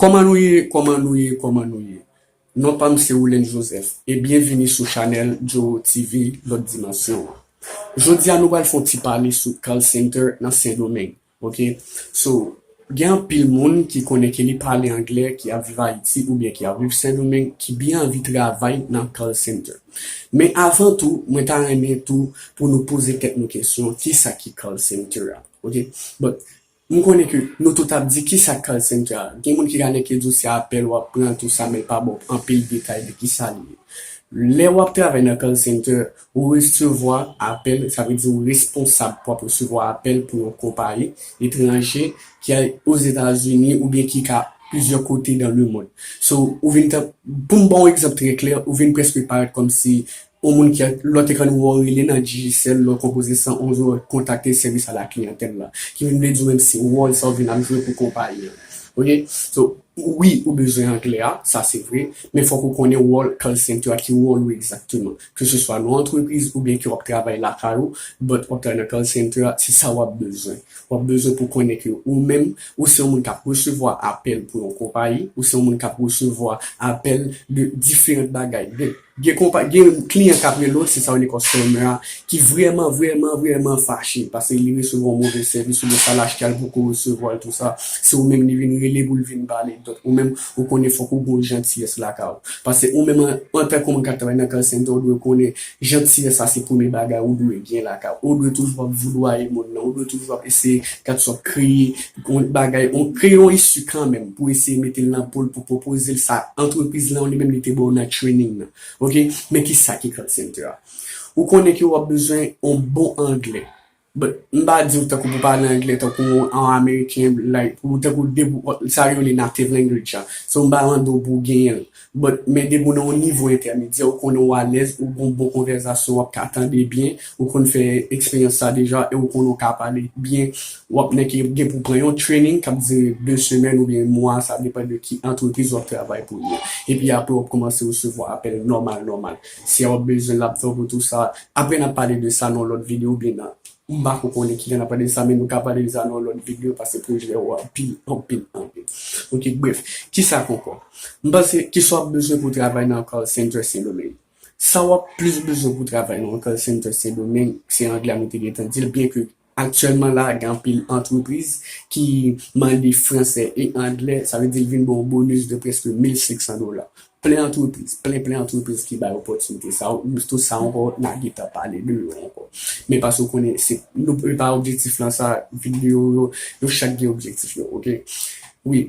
Kòman nou ye kòman nou ye kòman nou ye non pam se Rolens Joseph e byen vini sou chanèl Joro TV lòt dimansyon an jodia nou pral fè yon ti pale sou call center nan sendomeng ok so gen anpil moun ki konnen ke li pale anglè ki ap viv ayiti oubyen ki ap viv sendomeng ki byen anvi travay nan call center men avan tou mwen ta renmen tou pou nou poze tèt nou kesyon kisa ki call center ok bon M konnen ke nou tout ap di kisa call center a? Gen moun ki ka neke di w se apèl wap pran tout sa men l pa ba w anpil detay de kisa li ye. Lè wap travay nan call center, ou resevwa apèl, sa vle di ou responsab pou ap resevwa apèl pou yon konpayi etranje ki a Ozetazini oubyen ki ka plizyè kote dan lemond. So, ou vin tank, pou m ba w yon egzanp trè klè, ou vin prèske parèt kòmsi Yon moun ki lòt ekran nou wè w rele nan Digicel lè w konpoze 111 ou kontakte sèvis a la kliyantèl la. Ki vin vle di w menm se wòl sa ou vin ap jwe pou konpayi an. Ok so wi ou bezwen anglè a sa se vre men fòk ou konnen wòl call center a ki wòl ou egzakteman ke se swa nan antrepriz oubyen ke w ap travay lakay ou but w ap travay nan call center a se sa w ap bezwen. W ap bezwen pou konnen ke ou menm ou se yon moun k ap resevwa apèl pou yon konpayi ou se yon moun k ap resevwa apèl de diferant bagay de. Gen kliyan kap rele w, se sa w rele customer a, ki vrèman, vrèman, vrèman fache paske li resevwa yon move sèvis oubyen sa l achte a li poko resevwa l tou sa. Se ou menm li vin rele pou l vin pale. Donk ou menm ou konnen fòk ou gen yon jantiyès lakay ou. Paske ou menm antanke moun kap travay nan call center ou dwe konnen jantiyès sa se premye bagay ou dwe gen lakay ou. Ou dwe toujou ap voudwaye moun nan, ou dwe toujou ap eseye gad sa w ap kreye. Gon bagay on kreye on issue kanmenm pou eseye metel nan pol pou pwopozel sa antrepriz lan ou li menm li te baw nan training nan ok men kisa ki call center a ou konnen ke wap bezwen on bon anglè but m pa diw tankou pou pale anglè tankou on ameriken like pou tankou sa yo rele native language a so m pa mandew pou genyenl But men depi w nan yon nivo entèmedyè ou konnen w alèz, ou gen yon bon konvèzasyon, w ap ka tande byen, ou konn fè eksperyans sa deja e ou konnen w ka pale byen, w ap nèk ki gen pou pran yon training k ap dire 2 semèn oubyen mwa, sa depan de ki antrepriz w ap travay pou li an. Epi apre w ap kòmanse resevwa apèl nòmal nòmal. Si a w ap bezwen l ap fè w retou sa. Apre n ap pale de sa nan yon lòt videyo oubyen nan. M pako konnen ki jan nap pale de sa men nou ka pale de sa nan yon lòt video pase pwojè ou a pi anpil anpil ok bref kisa ankò m panse kisa wap bezwen pou travay nan call center sendomeng sa wap plis bezwen pou travay nan yon call center sendomeng se anglè a nou te gentan dil byen ke aktyèlman la gen anpil antrepriz ki mande fransè e anglè sa vle di l vin ba w bonus de prèske 1500 dola Plen antrepriz, plen plen antrepriz ki bay opòtinite sa yo, tout sa ankò na gentan pale de yo ankò. Men pase ou konnen se nou e pa objektif lan sa video yo, yo chak gen objektif yo ok. Wi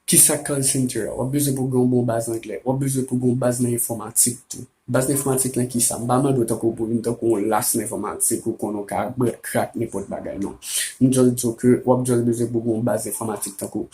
Kisa call center, wap bezwen pou gen yon bon baz anglè, wap bezwen pou gen yon baz nan enfòmatik tou. Baz nan enfòmatik nan kisa? M pa mande w tankou pou vin tankou yon las nan enfòmatik ou konnen ou ka bwè krak nenpòt bagay non. M just di w ke wap just bezwen pou gen yon baz enfòmatik tankou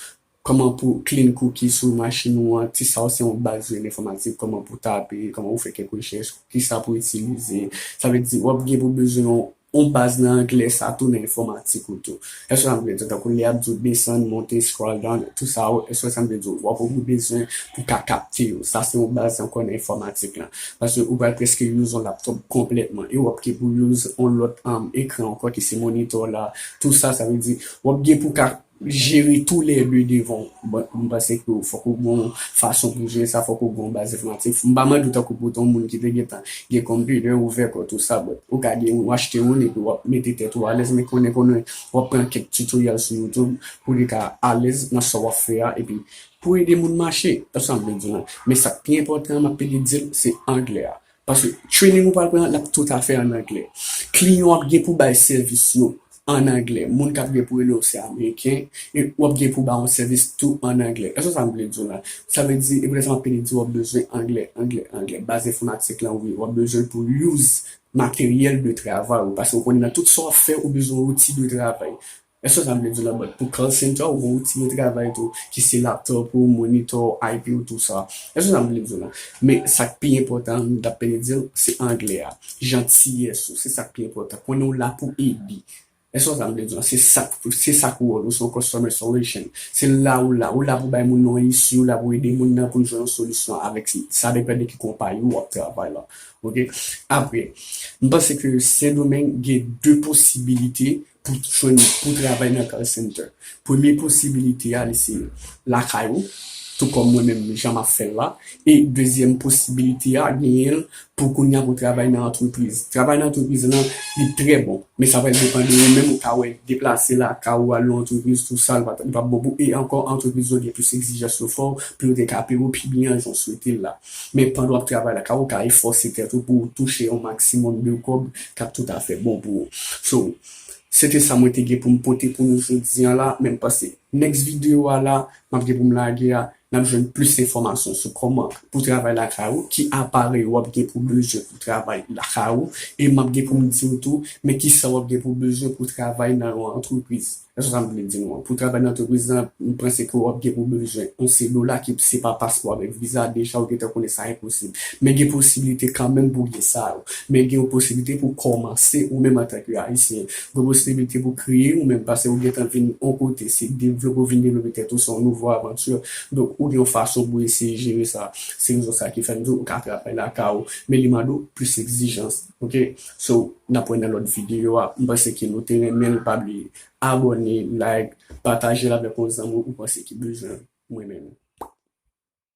Kòman pou clean cookie sou machin ou an, ti sa ou se yon baz zen enfòmatik, kòman pou tape, kòman pou fè kèk rechèch, kisa pou itilize, sa vle di wap gen pou bezwen yon yon baz nan anglè sa tou nan enfòmatik ou tou. Èske sa vle di tankou lè yap di ou desann, monte, scroll down, tou sa ou èske sa vle di ou wap gen bezwen pou ka kapte yo, sa se yon baz ankò nan enfòmatik lan. Paske ou pral prèske use yon laptop konplètman e wap gen pou use yon lòt ekran ankò ki se monitor la, tou sa sa vle di wap gen pou ka jere tou lè 2 devan ou m panse ke fòk ou gen yon fason pou jere sa fòk ou gen yon baz enfòmatik m pa mande ou tankou pou ton moun ki te gentan gen computer ouvè kò tou sa but ou ka gen yon achte youn epi wap mete tèt ou alèz men konnen konnen wap pran kèk tutorial sou youtube pou li ka alèz nan sa wap fè a epi pou ede moun mache se sa m vle di w la men sak pi enpòtan map ede dil se anglè a Paske training ou pral pran an lap tout afè an anglè. Kliyan w ap gen pou bay sèvis yo an anglè. Moun kap gen pou rele w se ameriken e w ap gen pou ba yon sèvis tou an anglè. Esw wè sa m vle di w la? Sa vle di e poutèt sa m ap pede di w ap bezwen anglè, anglè, anglè. Baz enfòmatik lan wi, w ap bezwen l pou use materyèl de travay ou. Paske w konnen nan tout sa w ap fè ou bezwen outil de travay. Èske sa vle di nan bòt pou call center ou gen yon ti retravay tou ki se laptop ou, monitor ou, IP ou tou sa. Èske sa vle di nan. Men sak pi enpòtan an nou tap pene diw se anglè a. Jantiyès ou se sak pi enpòtan. Konnen ou la pou ede. Èske wè sa m vle di w lan? Se sak se sak wòl ou se yon customer solution. Se la ou la. Ou la pou bay moun yon isi, ou la pou ede moun nan poul jwenn yon solisyon avèk si sa depann de ki konpayi ou wap travay lan. Ok. Apre, m panse ke Sendomeng gen 2 posibilite pou jwenn pou travay nan call center premye posibilite a li se lakay ou tou kòm mwen menm jan map fèl la e dezyèm posibilite a genyenl pou kounya pou travay nan antrepriz travay nan antrepriz lan li trè bon men sa pral depan de ou menm ou ka wè deplase lakay ou al nan antrepriz tou sa li pap bon pou e ankò antrepriz yo gen plis egzijans yo fòw pou yo te ka peyew pi byen jan ou swetel la. Men pandan w ap travay la ka ou ka efòse tèt ou pou ou touche yon maksimòm de kòb k ap tout afè bon pou ou. So, se te sa mwen te gen pou m pote pou nou jodi an la, men m panse next video a la m ap gen pou m lage a n ap jwenn plis enfòmasyon sou kòman pou travay lakay ou, ki aparèy ou ap gen pou bezwen pou travay lakay ou e m ap gen pou m di w tou men kisa w ap gen pou bezwen pou travay nan yon antrepriz. Èske w konprann sa m vle di nou an? Pou travay nan antrepriz lan, m panse ke w ap gen pou bezwen yon CEDOLA ki se pa paspò avèk viza, deja ou gentan konnen sa enposib. Men gen posiblite kanmenm pou w gen sa yo. Men gen yon posiblite pou w kòmanse ou menm antanke Ayisyen. Gen posiblite pou w kreye ou menm pase ou gentan vin yon kote, se devlope ou vin devlope tèt ou, se yon nouvo avanti. Donk ou gen yon fason pou w eseye jere sa. Se rezon sa ki fè m di w ou ka travay lakay ou, men li mande w plis egzijans. Ok so nap wè nan lòt video a m panse ke nou te renmen l pa bliye abòne like patajel avèk yon zanmi ou panse ki bezwen mwen menm.